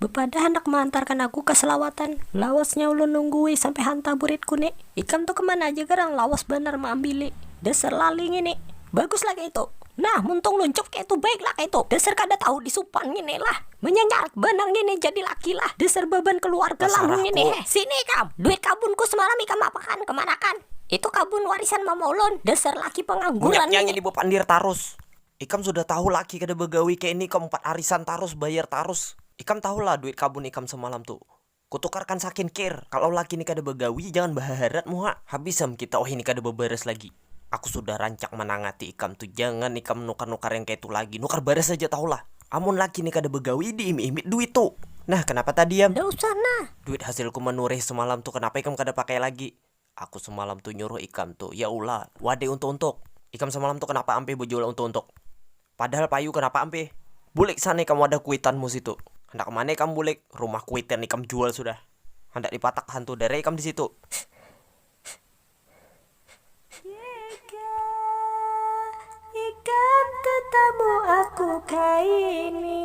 Bepadah handak meantarkan aku ka selawatan, lawasnya ulun nunggui sampai hantah buritku ni, ikam tu kemana aja garang lawas banar meambili, dasar lali ngini, baguslah kaitu, nah muntung luncup kaitu baiklah kaitu, dasar kada tahu disupan ngini lah, menyanyarat banar ngini jadi laki lah, dasar baban keluarga lamun ngini heh, sini ikam, duit kabunku semalam ikam apakan, kemanakan, itu kabun warisan mama ulun, dasar laki pengangguran ngini. Banyaknya ngini bepandir tarus, Ikam sudah tahu laki kada bagawi kaya ini ikam umpat arisan tarus bayar tarus ikam tahu lah duit kabun ikam semalam tu kutukarkan sakin kir kalau laki ini kada bagawi jangan bahaharat muha habis am kita wahini kada babaras lagi aku sudah rancak manangati ikam tu jangan ikam nukar nukar yang kaya tu lagi nukar baras aja tahu lah amun laki ini kada bagawi di imit imit duit tu nah kenapa tadi am. Nda usah nah. Duit hasilku manureh semalam tu kenapa ikam kada pakai lagi Aku semalam tu nyuruh ikam tu, ya ulah, wadai untuk-untuk. Ikam semalam tu kanapa ampih bajual untuk-untuk. Padahal payu kanapa ampih. Bulik sana ikam wadah kuitanmu situ. Handak kemana ikam bulik, rumah kuitan ikam jual sudah. Handak dipatak hantu dara ikam disitu. Jika ikam tetamu aku kaini.